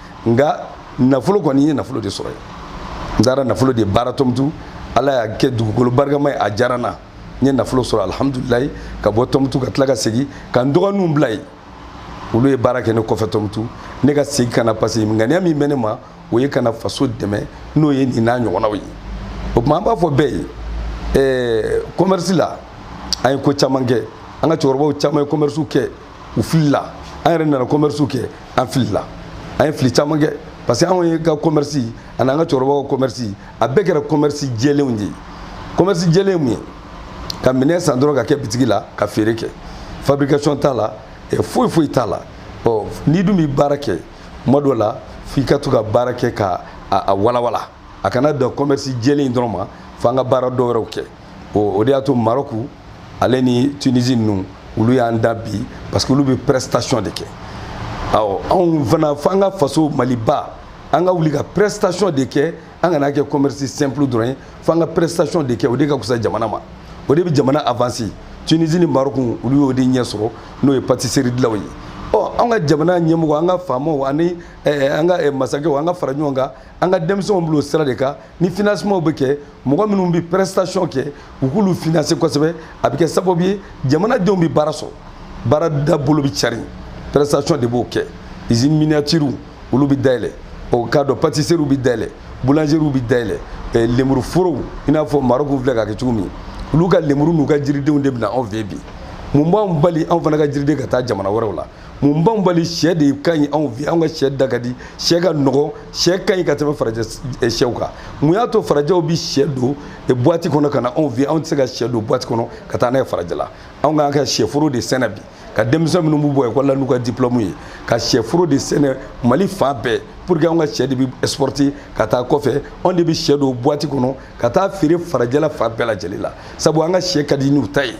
nka nafolo kɔni n ye nafolo de sɔrɔ yen n taara nafolo de baara tɔmtu ala y'a kɛ dugukolo barikama ye a diyara n na n ye nafolo sɔrɔ alihamudulilayi ka bɔ tɔmtu ka tila ka segin ka n dɔgɔninw bila yen olu ye baara kɛ ne kɔfɛ tɔmtu ne ka segin ka na parce que ŋaniya min bɛ ne na o ye ka na faso dɛmɛ n'o ye nin n'a ɲɔgɔnnaw ye o tuma an b'a fɔ bɛɛ ye ɛɛ commerce la an ye ko caman kɛ an ka cɛkɔrɔbaw caman ye commerce kɛ u filila an yɛrɛ nana commerce kɛ an filila an ye fili caman kɛ parce que anw yɛrɛ ka commerce ani an ka cɛkɔrɔbaw ka commerce a bɛɛ kɛra commerce jɛlenw de ye commerce jɛlen mun ye ka minɛn san dɔrɔn ka kɛ bitigi la ka feere kɛ fabrication t'a la foyi foyi t'a la ɔ n'i dun bɛ baara kɛ tuma dɔ la f'i ka to ka baara kɛ ka a walawala a kana dan commerce jɛlen dɔrɔn ma f'an ka baara dɔ wɛrɛw kɛ o o de y'a to maroku ale ni tunisi ninnu olu y'an dan bi parce que olu bɛ prestation de kɛ awɔ anw fana fo an ka faso maliba an ka wuli ka prestation de kɛ an kana kɛ commerce simple dɔrɔn ye fo an ka prestation de kɛ o de ka fisa jamana ma o de bɛ jamana avancer tunisi ni maroc olu y'o de ɲɛ sɔrɔ n'o ye pâtisserie dilan ye ɔ an ka jamana ɲɛmɔgɔ an ka faamaw ani eh, an ka eh, masakɛw an ka fara ɲɔgɔn kan an ka denmisɛnw bil'o sira de kan ni financement bɛ kɛ mɔgɔ minnu bɛ prestation kɛ u k'olu financer kosɛbɛ a bɛ kɛ sababu ye jamanadenw bɛ baara sɔrɔ baara dabolo bɛ cari prestation de b'o kɛ usine miniature olu bɛ dayɛlɛ o k'a dɔn pâtisserie bɛ dayɛlɛ boulangerie bɛ dayɛlɛ eh, lemuru forow i n'a fɔ Maroc filɛ k'a kɛ cogo min olu ka lemuru n'u ka jiridenw de bɛ na anw fɛ bi mun b'anw bali anw fana ka jiriden ka taa jamana wɛrɛw la mun b'anw bali sɛ de ka ɲi anw fɛ anw ka sɛ da ka di sɛ ka nɔgɔn sɛ ka ɲi ka tɛmɛ farajɛ sɛw kan mun y'a to farajɛw bi sɛ don buwati kɔnɔ ka na anw fɛ anw tɛ se ka sɛ don buwati kɔnɔ ka taa n'a ye farajɛ la anw k'an ka sɛforo de sɛnɛ bi ka denmisɛn minnu b'u bɔ ekɔli la n'u ka diplɔmu ye ka sɛforo de sɛnɛ mali fan bɛɛ pour que anw ka sɛ de bi exporter ka taa kɔfɛ anw de bi sɛ don buwati kɔnɔ ka taa feere farajɛla fan bɛɛ lajɛlen la sabu an ka sɛ ka di n'u ta ye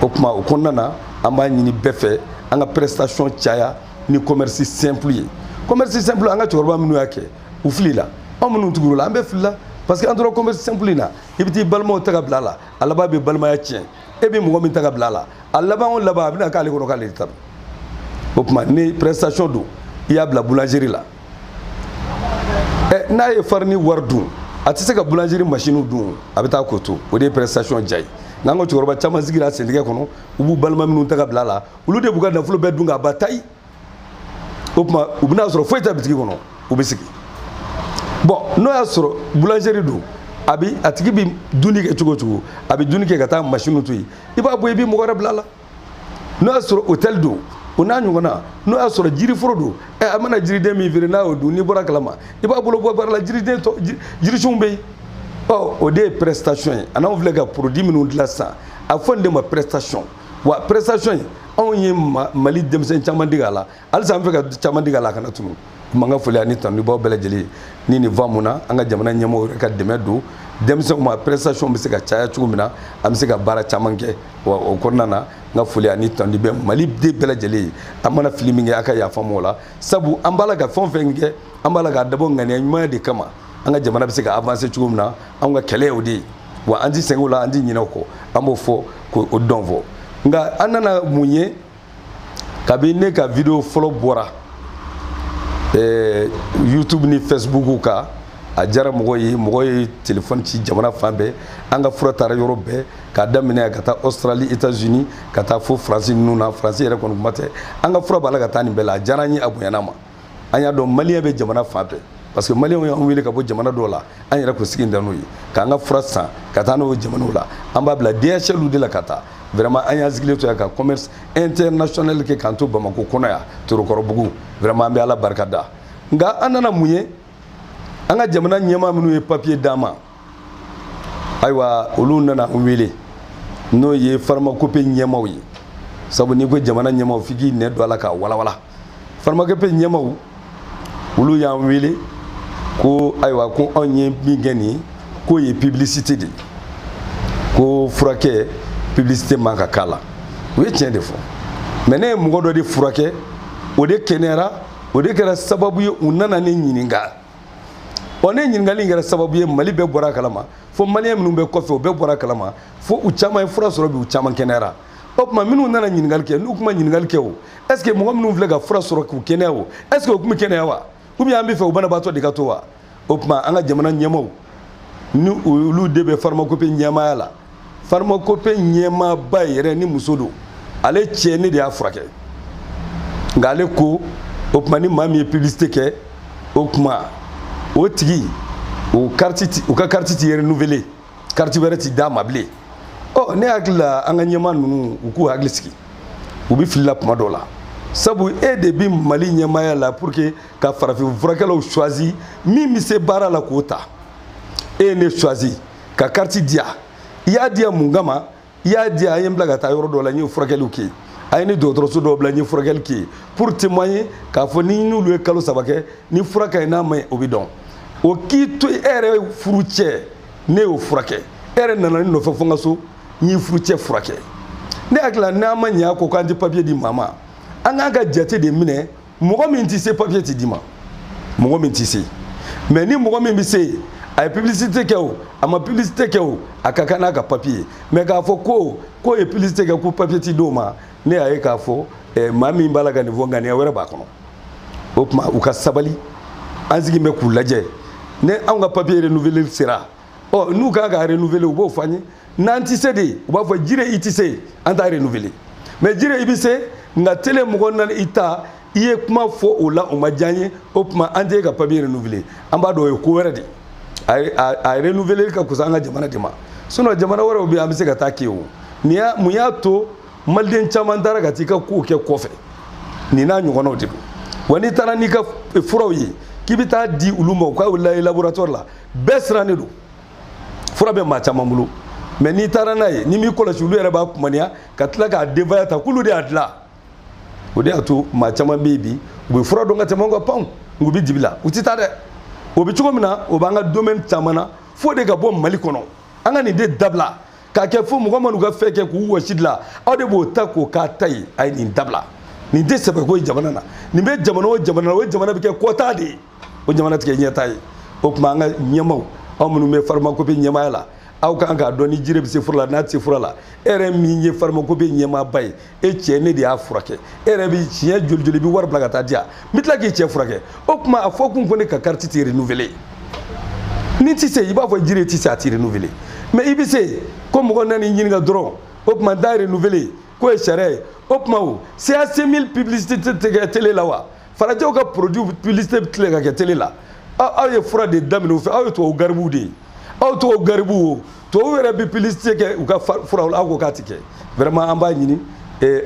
o tuma o kɔnɔna na an b'a ɲini bɛɛ fɛ an ka prestation caya ni commerce simple ye commerce simple an ka cɛkɔrɔba minnu y'a kɛ u filila anw minnu tugur'a la an bɛɛ filila parce que an tora commerce simple in na i bɛ t'i balimaw ta ka bila a la a laban bɛ balimaya tiɲɛ e bɛ mɔgɔ min ta k'a bila a la a laban o laban a bɛna k'ale kɔnɔ k'ale de ta don o tuma ni prestation don i y'a bila boulangerie la ɛ n'a ye farini wari dun a tɛ se ka boulangerie machine dun a bɛ taa k'o to o de ye prestation diya ye n'an ka cɛkɔrɔba caman sigira bitigi kɔnɔ u b'u balima minnu ta ka bila a la olu de b'u ka nafolo bɛɛ dun k'a ban tayi o tuma u bɛna sɔrɔ foyi tɛ bitigi kɔnɔ u bɛ sigi bon n'o y'a sɔrɔ boulangerie don a bi a tigi bi dunni kɛ cogo o cogo a bi dunni kɛ ka taa machine to yen i b'a bɔ i bi mɔgɔ wɛrɛ bila a la n'o y'a sɔrɔ hôtel don o n'a ɲɔgɔnna n'o y'a sɔrɔ jiriforo don ɛ a mana jiriden min feere n'a y'o dun n'i bɔr'a kalama i b'a bolo bɔ baara la jiriden tɔ jirisunw bɛ yen ɔ o de ye prestation ye a n'anw filɛ ka produit minnu dilan sisan a fɔ nin de ma prestation wa prestation in anw ye mali denmisɛn caman dege a la halisa an fɛ ka caman digi a la a kana tunu kuma ka foli ani tanu b'aw bɛɛ lajɛlen ni nin va mun na an ka jamana ɲɛmɔgɔw yɛrɛ ka dɛmɛ don denmisɛnw ma prestation bɛ se ka caya cogo min na an bɛ se ka baara caman kɛ wa o kɔnɔna na n ka foli ani tanuli bɛ maliden bɛɛ lajɛlen ye an mana fili min kɛ a ka yafa an ma o la sabu an b'a la ka fɛn o fɛn kɛ an b'a la k'a dabɔ ŋaniya ɲumanya de kama an ka jamana bɛ se ka avancer cogo min na an ka kɛlɛ y'o de ye wa an ti sɛgɛn o la an ti ɲinɛ o kɔ an b'o fɔ k'o dɔn fɔ nka an nana mun ye kabini ne ka video fɔlɔ bɔra eh, youtube ni facebook kan a diyara mɔgɔ ye mɔgɔ ye telefɔni ci jamana fan bɛɛ an ka fura taara yɔrɔ bɛɛ k'a daminɛ ka taa australie états unis ka taa fo faransi ninnu na faransi yɛrɛ kɔni kuma tɛ an ka fura b'a la ka taa nin bɛɛ la a diyara n ye a bonyana n ma an y'a dɔn maliyɛn bɛ jamana fan bɛɛ parce que maliyɛnw y'an wele ka bɔ jamana dɔw la an yɛrɛ kun sigilen tɛ n'o ye k'an ka fura san ka taa n'a y'o jamanaw la an b'a bila dhl de la ka taa vraiment an y'an sigilen to yan ka commerce international kɛ k'an to bamako kɔnɔ yan torokɔrɔbugu vraiment an bɛ ala barika da nka an nana mun ye an ka jamana ɲɛmaa minnu ye papiye d'an ma ayiwa olu nana n wele n'o ye faramakope ɲɛmaw ye sabu n'i ko jamana ɲɛmaw f'i k'i nɛn don a la k'a walawala faramakope ɲɛmaw olu y'an wele ko ayiwa ko aw ye min kɛ nin ye k'o ye publicité de ye ko furakɛ publicité man kan k'a la u ye tiɲɛ de fɔ mais ne ye mɔgɔ dɔ de furakɛ o de kɛnɛyara o de kɛra sababu ye u nana ne ɲininka ɔ ne ɲininkali in kɛra sababu ye mali bɛɛ bɔr'a kalama fo maliyɛn minnu bɛ kɔfɛ u bɛɛ bɔr'a kalama fo u caman ye fura sɔrɔ bi u caman kɛnɛyara o tuma minnu nana ɲininkali kɛ n'u tun ma ɲininkali kɛ o est ce que mɔgɔ minnu filɛ ka fura sɔrɔ k'u kɛnɛya o est ce que u tun bɛ kɛnɛya wa ou bien an b'a fɛ u banabaatɔ de ka to wa o tuma an ka jamana ɲɛmaaw ni olu de bɛ farmakope ɲɛmaaya la farmakope ɲɛmaaba yɛrɛ nin muso don ale cɛ ne de y'a furakɛ nka ale ko o tuma ni maa min ye publicité kɛ o tuma o tigi o kariti ti u ka kariti ti renouveler kariti wɛrɛ ti d'a ma bilen ɔ ne hakili la an ka ɲɛmaa ninnu u k'u hakili sigi u bɛ fili la kuma dɔw la sabu e de bɛ mali ɲɛmaaya la pour que ka farafin furakɛlaw choisi min bɛ se baara la k'o ta e ye ne choisi ka kariti di yan i y'a di yan mun kama i y'a di yan a ye n bila ka taa yɔrɔ dɔ la n ye furakɛliw kɛ a ye ni dɔgɔtɔrɔso dɔw bila n ye furakɛli kɛ pour témoigner k'a fɔ ni n'olu ye kalo saba kɛ ni fura ka ɲi n'a ma ɲi o bɛ dɔn o k'i to e yɛrɛ furucɛ ne y'o furakɛ e yɛrɛ nana ne nɔfɛ fo n ka so n y'i furucɛ furakɛ ne hakili la n'an ma ɲɛ a ko k'an tɛ papiye di maa ma an k'an ka jate de minɛ mɔgɔ min tɛ se papiye tɛ d'i ma mɔgɔ min tɛ se mais ni mɔgɔ min bɛ se yen a ye publicité kɛ o a ma publicité kɛ o a ka kan n'a ka papiye ye mais k'a fɔ ko k'o ye publicité kɛ ko papiye tɛ d'o ma ne y'a ye k'a fɔ eh, maa min b'a la ka nin fɔ ŋaniya wɛrɛ b'a kɔnɔ o tuma u ka sabali an sigilen bɛ k'u lajɛ ni anw ka papiye renouveler sera ɔ n'u kan ka renouveler u b'o fɔ an ye n'an tɛ se de u b'a fɔ jire i tɛ se an t'a renouveler mais jire i bɛ se nka telemɔgɔ nana i ta i ye kuma fɔ o la o ma diya n ye o tuma an tɛ ka papiye renouveler an b'a dɔn o ye ko wɛrɛ de ye a renouveler ka kusa an ka jamana de ma sinon jamana wɛrɛw bɛ yen an bɛ se ka taa kɛ o nin y'a mun y'a to maliden caman taara ka t'i ka kow kɛ kɔfɛ nin n'a ɲɔgɔnnaw de don wa n'i taara n'i ka furaw ye k'i bɛ taa di olu ma u k'a lajɛ laboratoire la bɛɛ sirannen don fura bɛ maa caman bolo mais n'i taara n'a ye n'i m'i kɔlɔsi olu yɛrɛ b'a kumaniya ka tila k'a denbaya ta k'olu de y'a dilan o de y'a to maa caman bɛ yen bi u bɛ fura dɔn ka tɛmɛ u kan pewu u bɛ dibi la u tɛ taa dɛ o bɛ cogo min na o b'an ka domaine caman na fo de ka bɔ mali kɔnɔ an ka nin de dabila k'a kɛ fo mɔgɔ minnu ka fɛn kɛ k'u wɔsi dilan aw de b'o ta k'o k'a ta ye a ye nin dabila nin tɛ sɛbɛko ye jamana na nin bɛ jamana o jamana na o jamana bɛ kɛ kɔta de ye o jamana tɛ kɛ ɲɛtaa ye o tuma an ka ɲɛmaaw aw minnu bɛ farmakopi ɲɛmaaya la aw kan k'a dɔn ni jiri bɛ se fura la n'a tɛ se fura la e yɛrɛ min ye farmakopi ɲɛmaaba ye e cɛ ne de y'a furakɛ e yɛrɛ bɛ siɲɛ joli joli i bɛ wari bila ka taa di yan n bɛ tila k'i cɛ furakɛ o tuma a fɔ kun ko ne ka kariti tɛ renouveler n'i tɛ se i b'a fɔ jiri tɛ se a tɛ renouveler mais i bɛ se ko mɔgɔ nana i ɲininka dɔrɔn o tuma n t'a renouveler k'o ye sariya ye o tuma o CAC 1000 publicité tɛ kɛ télé la wa. farajɛw ka produit publicité bɛ tilen ka kɛ télé la aw ye fura de daminɛ u fɛ aw ye tubabu garibuw de ye aw tubabu garibuw o tubabu yɛrɛ bɛ publicité kɛ u ka furaw la aw ko k'a tɛ kɛ vraiment an b'a ɲini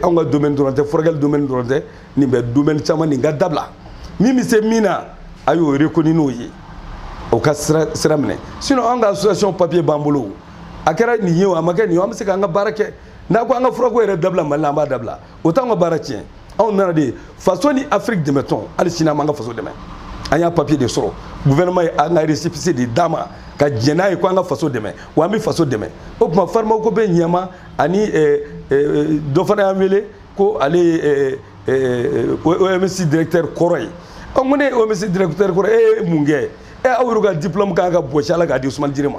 anw ka domaine dɔrɔn tɛ furakɛli domaine dɔrɔn tɛ nin bɛ domaine caman na an k'a dabila min bɛ se min na a y'o reconnu n'o ye o ka sira sira minɛ sinon an ka association papier b'an bolo a kɛra nin ye o a ma kɛ nin ye an bɛ se k'an ka baara kɛ n'a ko an ka furako yɛrɛ dabila mali la an b'a dabila o t'anw ka baara tiɲɛ anw nana de faso ni afiriki dɛmɛtɔn hali sini an b'an ka faso dɛmɛ an y'a papiye de sɔrɔ gouvernement ye an ka récépissé de d'an ma ka jɛn n'a ye ko an ka faso dɛmɛ wa an bɛ faso dɛmɛ o tuma farmakopi ɲɛmaa ani eh, eh, dɔ fana y'an wele ko ale ye eh, oms directeur kɔrɔ ye ɔ ko ne ye oms directeur kɔrɔ e ye mun kɛ ɛ aw yɛrɛ ka diplôme kan ka bɔsi a la k'a di usumani jire ma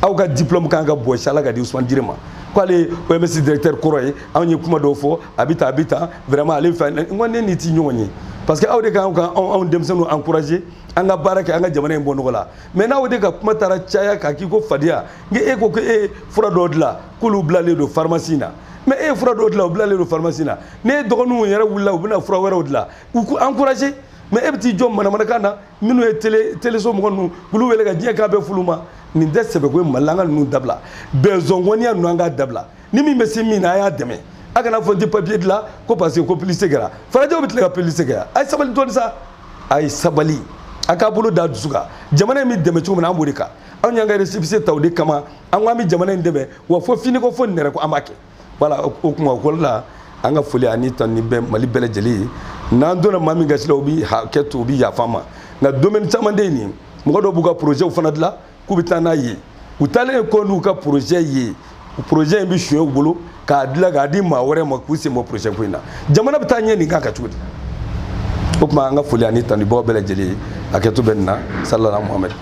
aw ka diplôme kan ka bɔsi a la k'a di usumani jire ma k'ale oms directeur kɔrɔ ye anw ye kuma dɔw fɔ a bɛ ta a bɛ ta vraiment ale fɛ n ko ne n'i ti ɲɔgɔn ye parce que aw de kan ka anw denmisɛnninw encourager an ka baara kɛ an ka jamana in bɔ nɔgɔ la mais n'aw de ka kuma taara caya k'a k'i ko fadenya n e ko ko e ye fura dɔw dilan k'olu bilalen don pharmacie na mais e ye fura dɔw dilan u bilalen don pharmacie na ne dɔgɔninw yɛrɛ wulila u bɛna fura wɛrɛw dilan i k'o encourager mais e bɛ t'i jɔ manamanakan na minnu ye télé téléso mɔgɔ ninnu k'olu wele ka diɲɛ kan bɛɛ f'olu ma nin tɛ sɛbɛko ye mali la an ka ninnu dabila bɛnzɔngɔniya ninnu an k'a dabila ni min bɛ se min na a y'a dɛmɛ a kana fɔ n tɛ papiye dilan ko parce que ko publicité kɛra farajɛw bɛ tilen ka publicité kɛ a ye sabali dɔɔni sa a ye sabali a k'a bolo da dusu kan jamana in bɛ dɛmɛ cogo min na an b'o de kan anw y'an ka resipise ta o de kama an ko an bɛ jamana in dɛmɛ wa fo finiko fo nɛrɛ ko an b'a kɛ voilà o kuma ko la an ka foli ani tanuni bɛ mali bɛɛ lajɛlen ye n'an donna maa min gasi la u bi hakɛ to u bi yafa an ma nka domaine caman de ye nin mɔgɔ dɔw b'u ka projɛtw fana dilan k'u bɛ taa n'a ye u taalen ye kɔ n'u ka projɛt ye projɛt in bɛ suɲɛ u bolo k'a dilan k'a di maa wɛrɛ ma k'u sen bɔ projɛt ko in na jamana bɛ taa ɲɛ nin kan ka cogo di o tuma an ka foli ani tanu b'aw bɛɛ lajɛlen ye hakɛto bɛ nin na salala muhamɛdi